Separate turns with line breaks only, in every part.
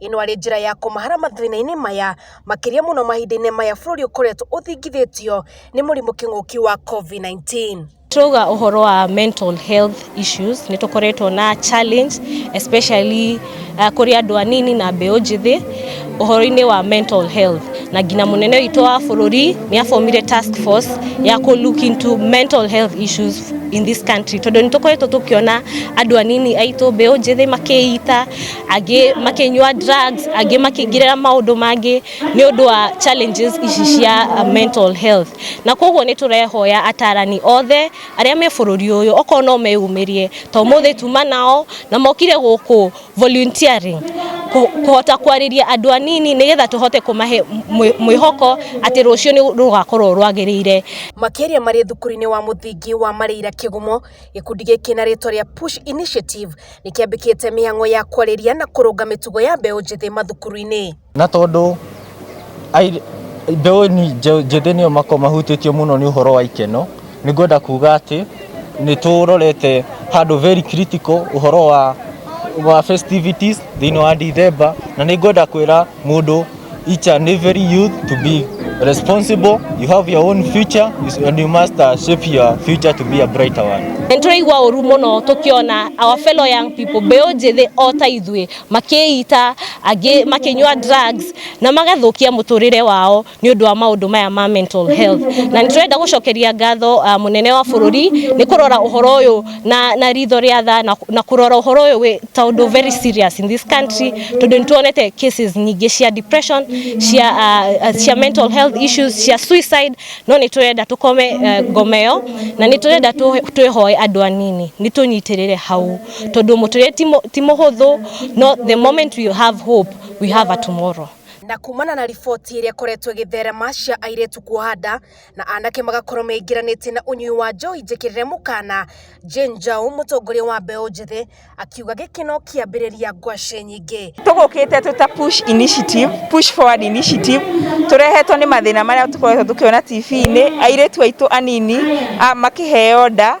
Ĩno arĩ njĩra ya kũmahara mathĩna-inĩ maya makĩria mũno mahinda-inĩ maya bũrũri ũkoretwo ũthingithĩtio nĩ mũrimũ kĩng'ũki wa COVID-19. Twauga ũhoro wa mental health issues nĩ tũkoretwo na challenge especially uh, kũrĩ andũ anini na mbeũ njĩthĩ ũhoro-inĩ wa mental health na nginya mũnene witũ wa bũrũri nĩ abomire task force ya kũ look into mental health issues in this country tondũ nĩ tũkoretwo tũkĩona andũ anini aitũ mbeũ njĩthĩ makĩita angĩ makinyua drugs angĩ makĩingĩrĩra maũndũ mangĩ nĩ ũndũ wa challenges ici cia uh, mental health na koguo nĩ tũrehoya atarani othe arĩa me bũrũri ũyũ okorwo no meyumĩrie to mũthĩ tuma nao na mokire gũkũ volunteering kũ- kũhota kwarĩria andũ anini nĩgetha tũhote kũmahe mwĩ- mwĩhoko atĩ rũciũ nĩ rũgakorwo rwagĩrĩire makĩria marĩ thukuru-inĩ wa mũthingi wa marĩira kĩgumo gĩkundi gĩkĩ na rĩtwa rĩa push initiative nĩ kĩambĩkĩte mĩhang'o ya kwarĩria na kũrũnga mĩtugo ya mbeũ njĩthĩ mathukuru-inĩ. Na tondũ mbeũ njĩthĩ nĩo makoragwo mahutĩtio mũno nĩ ũhoro wa ikeno, nĩ ngwenda kuga atĩ nĩ tũrorete handũ very critical ũhoro wa festivities thĩinĩ wa Ndithemba, na nĩ ngwenda kwĩra mũndũ each and every youth to be responsible. You have your own future and you must uh, shape your future to be a brighter one. Nĩ tũraigua ũru mũno tũkĩona our fellow young people mbeũ njĩthĩ o ta ithuĩ makĩita angĩ makĩnyua drugs na magathũkia mũtũrĩre wao nĩ ũndũ wa maũndũ maya ma mental health na nĩ tũrenda gũcokeria ngatho uh, mũnene wa bũrũri nĩ kũrora ũhoro ũyũ na na ritho rĩa tha na, na kurora uhoro uyu wi ta undu very serious in this country tondu nituonete cases nyingi cia depression cia uh, uh, cia mental health issues cia suicide no niturenda tukome uh, ngomeo na niturenda tu- twihoe andu anini nitunyitirire hau tondu muturire ti mu- ti muhuthu no the moment we have hope we have a tomorrow na kumana na riboti ĩrĩa ĩkoretwo ĩgĩtherema cia airĩtu kuoha nda na anake magakorwo meingĩranĩtie na ũnyui wa njohi njĩkĩrĩre mũkana. Jane Njau, mũtongoria wa mbeũ njĩthĩ, akiuga gĩkĩ no kĩambĩrĩria ngwacĩ nyingĩ. tũgũkĩte twĩ ta push initiative push forward initiative tũrehetwo nĩ mathĩna marĩa tũkoretwo tũkĩona TV-inĩ airĩtu aitũ anini a- makĩheo nda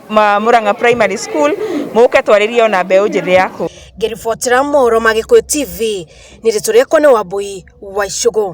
ma Murang'a Primary School muke twarĩrie ona mbeũ njĩthĩ ya kũu. Ngĩribotera mohoro ma Gĩkũyũ TV, nĩ rĩtwa rĩakwa nĩ Wambũi wa Icũgũ.